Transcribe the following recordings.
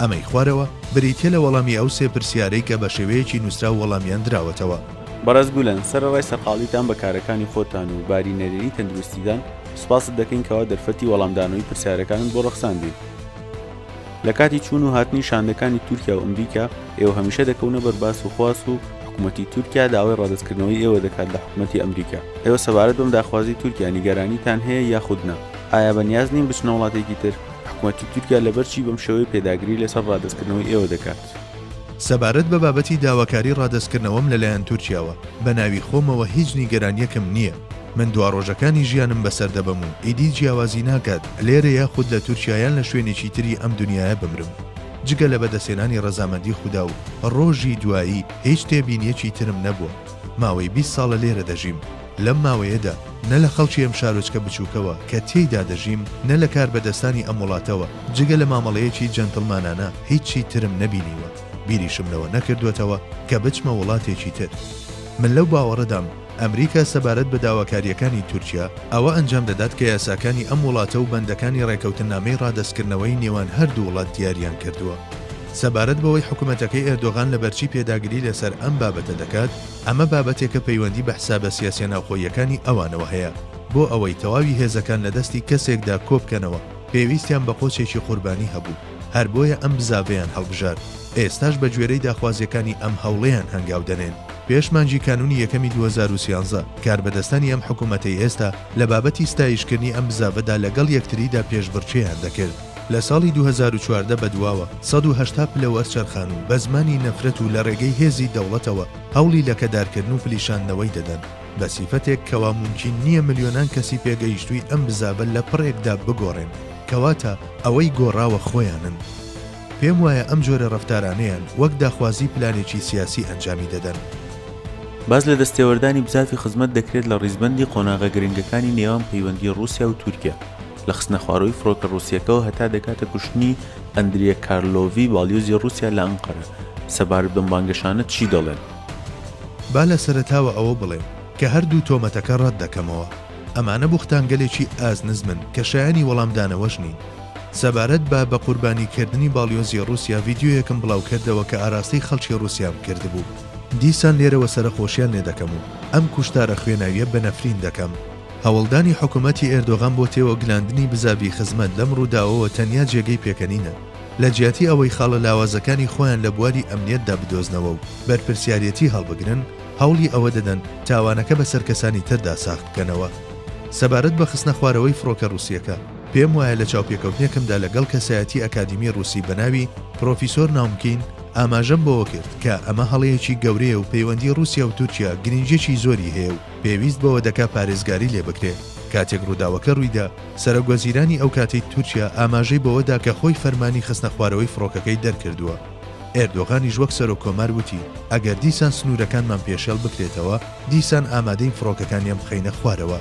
ئەمەی خوارەوە بریتیە لە وەڵامی ئەو سێ پرسیارەی کە بە شێوەیەکی نووسراو وەڵامیان دراوەتەوە. بەڕێز گولەن، سەرەڕای سەرقاڵیتان بە کارەکانی خۆتان و باری نەرێنی تەندروستیتان، سوپاست دەکەین کەوا دەرفەتی وەڵامدانەوەی پرسیارەکانت بۆ ڕەخساندین. لە کاتی چوون و هاتنی شاندەکانی تورکیا و ئەمریکا، ئێوە هەمیشە دەکەونە بەر باس و خواس و حکومەتی تورکیا داوای ڕادەستکردنەوەی ئێوە دەکات لە حکومەتی ئەمریکا. ئێوە سەبارەت بەم داخوازی تورکیا نیگەرانیتان هەیە یاخود نا؟ ئایا بەنیاز نین بچنە وڵاتێکی تر؟ حکومەتی تورکیا لەبەر چی بەم شێوەیە پێداگری لەسەر ڕادەستکردنەوەی ئێوە دەکات؟ سەبارەت بە بابەتی داواکاری ڕادەستکردنەوەم لەلایەن تورکیاوە، بە ناوی خۆمەوە هیچ نیگەرانییەکم نییە. من دوا ڕۆژەکانی ژیانم بەسەر دەبەم و ئیدی جیاوازی ناکات لێرە یاخود لە تورکیا یان لە شوێنێکی تری ئەم دونیایە بمرم. جگە لە بەدەستهێنانی ڕەزامەندی خودا و ڕۆژی دوایی هیچ تێبینییەکی ترم نەبووە. ماوەی بیست ساڵە لێرە دەژیم. لەم ماوەیەدا نە لە خەڵکی ئەم شارۆچکە بچووکەوە کە تێیدا دەژیم، نە لە کاربەدەستانی ئەم وڵاتەوە، جگە لە مامەڵەیەکی جەنتڵمانانە هیچی ترم نەبینیوە. بیریشم لەوە نەکردووەتەوە کە بچمە وڵاتێکی تر. من لەو باوەڕەدام ئەمریکا سەبارەت بە داواکارییەکانی تورکیا، ئەوە ئەنجام دەدات کە یاساکانی ئەم وڵاتە و بەندەکانی ڕێککەوتننامەی ڕادەستکردنەوەی نێوان هەردوو وڵات دیاریان کردووە. سەبارەت بەوەی حکومەتەکەی ئێردۆغان لەبەرچی پێداگری لەسەر ئەم بابەتە دەکات، ئەمە بابەتێکە پەیوەندی بە حسابە سیاسیە ناوخۆییەکانی ئەوانەوە هەیە، بۆ ئەوەی تەواوی هێزەکان لە دەستی کەسێکدا کۆبکەنەوە پێویستیان بە قۆچێکی قوربانی هەبوو، هەر بۆیە ئەم بزاڤەیان هەڵبژارد، ئێستاش بە گوێرەی داخوازیەکانی ئەم هەوڵەیان هەنگاو دەنێن. پێش مانگی کانونی یەکەمی دوو هەزار و سیانزە کاربەدەستانی ئەم حکومەتەی ئێستا لە بابەتی ستایشکردنی ئەم بزاڤەدا لەگەڵ یەکتریدا پێشبڕکێیان دەکرد، لە ساڵی دوو هەزار و چواردە بەدواوە سەد و هەشتا پلە وەرچەرخان و بە زمانی نەفرەت و لە ڕێگەی هێزی دەوڵەتەوە هەوڵی لەکەدارکردن و فلیشاندنەوەی دەدەن بە سیفەتێک کەوا مومکین نییە ملیۆنان کەسی پێگەیشتووی ئەم بزاڤە لە پڕێکدا بگۆڕێن کەواتە ئەوەی گۆڕاوە خۆیانن. پێم وایە ئەم جۆرە ڕەفتارانەیان وەک داخوازی پلانێکی سیاسی ئەنجامی دەدەن. باس لە دەستێوەردانی بزاڤی خزمەت دەکرێت لە ڕیزبەندی قۆناغە گرنگەکانی نێوان پەیوەندی ڕووسیا و تورکیا. لە خستنەخوارەوەی فڕۆکە ڕووسییەکەوە هەتا دەگاتە کوشتنی ئەندریە کارلۆڤی باڵیۆزی ڕووسیا لە ئەنقەرە، سەبارەت بەم بانگەشانە چی دەڵێن؟ با لە سەرەتاوە ئەوە بڵێم کە هەردوو تۆمەتەکە ڕەت دەکەمەوە. ئەمانە بوختانگەلێکی ئازنزمن کە شایەنی وەڵامدانەوەش نین. سەبارەت بە بە قوربانی کردنی باڵیۆزی ڕووسیا ڤیدیۆیەکم بڵاوکردەوە کە ئاراستەی خەڵکی ڕووسیام کردبوو. دیسان لێرەوە سەرەخۆشیان لێ دەکەم و ئەم کوشتارە خوێناوییە بە نەفرین دەکەم. هەوڵدانی حکومەتی ئێردۆغان بۆ تێوەگلاندنی بزاڤی خزمەت لەم ڕووداوەوە تەنیا جێگەی پێکەنینە، لە جیاتی ئەوەی خاڵە لاوازەکانی خۆیان لە بواری ئەمنیەتدا بدۆزنەوە و بەرپرسیاریەتی هەڵبگرن، هەوڵی ئەوە دەدەن تاوانەکە بەسەر کەسانی تردا ساغ بکەنەوە. سەبارەت بە خستنە خوارەوەی فڕۆکە ڕووسیەکە، پێم وایە لە چاوپێکەوتنێکمدا لەگەڵ کەسایەتی ئەکادیمی ڕووسی بە ناوی پرۆفیسۆر ناومکین ئاماژەم بەوە کرد کە ئەمە هەڵەیەکی گەورەیە و پەیوەندی ڕووسیا و تورکیا گرینگیەکی زۆری هەیە و پێویست بەوە دەکا پارێزگاری لێ بکرێ. کاتێک رووداوەکە روویدا، سەرۆکوەزیرانی ئەو کاتەی تورکیا ئاماژەی بەوە دا کە خۆی فەرمانی خستنەخوارەوەی فڕۆکەکەی دەرکردووە. ئێردۆغانیش وەک سەرۆککۆمار وتی، ئەگەر دیسان سنوورەکانمان پێشێڵ بکرێتەوە، دیسان ئامادەین فڕۆکەکانیان بخەینە خوارەوە.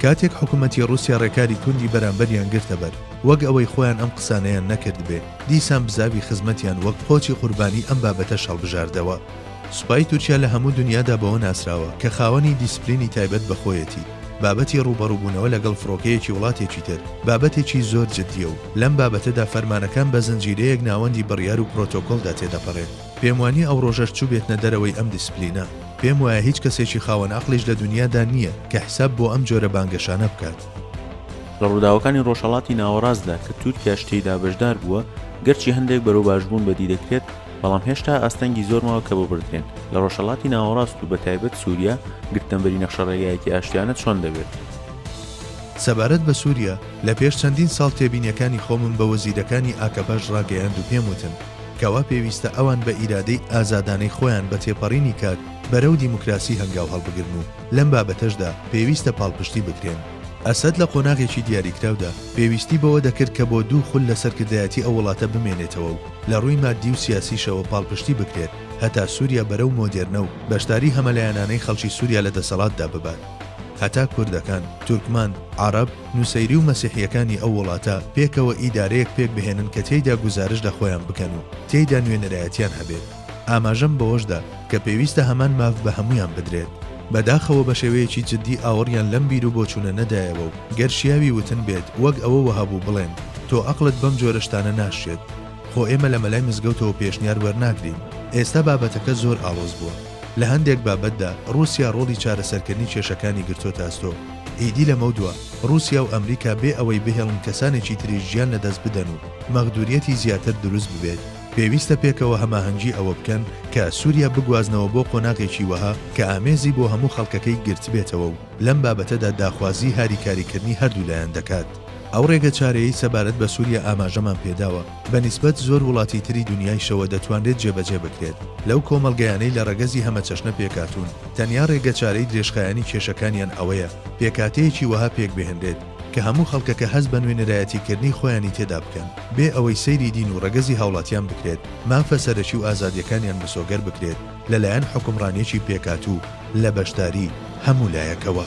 کاتێک حکوومەتی رووسیا رێکاری توندی بەرامبەریان گرتە بەر، وەک ئەوەی خۆیان ئەم قسانەیان نەکردبێ، دیسان بزاڤی خزمەتیان وەک قۆچی قوربانی ئەم بابەتەش هەڵبژاردەوە. سوپای تورکیا لە هەموو دونیادا بەوە ناسراوە کە خاوەنی دیسپلینی تایبەت بە خۆیەتی، بابەتی ڕووبەڕووبوونەوە لەگەڵ فڕۆکەیەکی وڵاتێکی تر بابەتێکی زۆر جددییە و لەم بابەتەدا فەرمانەکان بە زنجیرەیەک ناوەندی بڕیار و پرۆتۆکۆڵدا تێدەپەڕێت. پێموانییە ئەو ڕۆژەش چووبێتنە دەرەوەی ئەم دیسپلینە. پێموایە هیچ کەسێکی خاوەن ئەقڵیش لە دونیادا نییە کە حساب بۆ ئەم جۆرە بانگەشانە بکات. لە ڕووداوەکانی ڕۆژهەڵاتی ناوەڕاستدا کە تورکیاش تێیدا بەشدار بووە، گەرچی هەندێک بەرەو باشبوون بەدی دەکرێت، بەڵام هێشتا ئاستەنگی زۆر ماوە کە بۆ بردرێن. لە ڕۆژهەڵاتی ناوەڕاست و بە تایبەت سووریا، گرتنەبەری نەخشەڕێگایەکی ئاشتیانە چۆن دەبێت؟ سەبارەت بە سووریا، لە پێش چەندین ساڵ تێبینیەکانی خۆمم بە وەزیرەکانی ئاکەپەش ڕاگەیاند و پێم وتن کە وا پێویستە ئەوان بە ئیرادەی ئازادانەی خۆیان بە تێپەڕینی کات بەرەو دیموکراسی هەنگاو هەڵبگرن و لەم بابەتەشدا پێویستە پاڵپشتی بکرێن. ئەسەد لە قۆناغێکی دیاریکراودا پێویستی بەوە دەکرد کە بۆ دوو خول لە سەرکردایەتی ئەو وڵاتە بمێنێتەوە و لە ڕووی ماددی و سیاسیشەوە پاڵپشتی بکرێت هەتا سووریا بەرەو مۆدێرنە و بەشداری هەمەلایەنانەی خەڵکی سووریا لە دەسەڵاتدا ببات هەتا کوردەکان، تورکمان، عەڕەب، نوسەیری و مەسیحییەکانی ئەو وڵاتە پێکەوە ئیدارەیەک پێکبهێنن کە تێیدا گوزارش لە خۆیان بکەن و تێیدا نوێنەرایەتیان هەبێت. ئاماژەم بەوەشدا کە پێویستە هەمان ماف بە هەموویان بدرێت. بەداخەوە بەشێوەیەکی جدی ئاوڕیان لەم بیرو بۆچوونە نەدایەوە و گەر شیاوی وتن بێت وەک ئەوە وەهابوو بڵێن تۆ ئەقڵت بەم جۆرە شتانە ناشێت. خۆ ئێمە لە مەلای مزگەوتەوە پێشنیار وەرناگرین. ئێستا بابەتەکە زۆر ئاڵۆز بووە. لە هەندێک بابەتدا روسیا رۆڵی چارەسەرکردنی کێشەکانی گرتۆتە ئەستۆ. ئیدی لەمەودوا روسیا و ئەمریکا بێ ئەوەی بهێڵن کەسانێکی تریش گیان لەدەست بدەن و مەغدوریەتی زیاتر دروست ببێت، پێویستە پێکەوە هەماهەنگی ئەوە بکەن کە سوریا بگوازنەوە بۆ قۆناغێکی وەها کە ئامێزی بۆ هەموو خەڵکەکەی گرتبێتەوە و لەم بابەتەدا داخوازی هاریکاریکردنی هەردوو لایەن دەکات. ئەو ڕێگە چارەیەی سەبارەت بە سوریا ئاماژەمان پێداوە بە نیسبەت زۆر وڵاتی تری دونیایشەوە دەتوانرێت جێبەجێ بکرێت لەو کۆمەڵگەیانەی لە ڕەگەزی هەمەچەشنە پێکهاتوون تەنیا ڕێگەچارەی درێژخایەنی کێشەکانیان ئەوەیە پێکهاتەیەکی وەها پێکبهێنرێت کە هەموو خەڵکەکە هەست بە نوێنەرایەتی کردنی خۆیانی تێدا بکەن، بێ ئەوەی سەیری دین و ڕەگەزی هاوڵاتیان بکرێت، مافە سەرەکی و ئازادیەکانیان مسۆگەر بکرێت لە لایەن حوکمڕانیەکی پێکاتوو لە بەشداری هەموو لایەکەوە.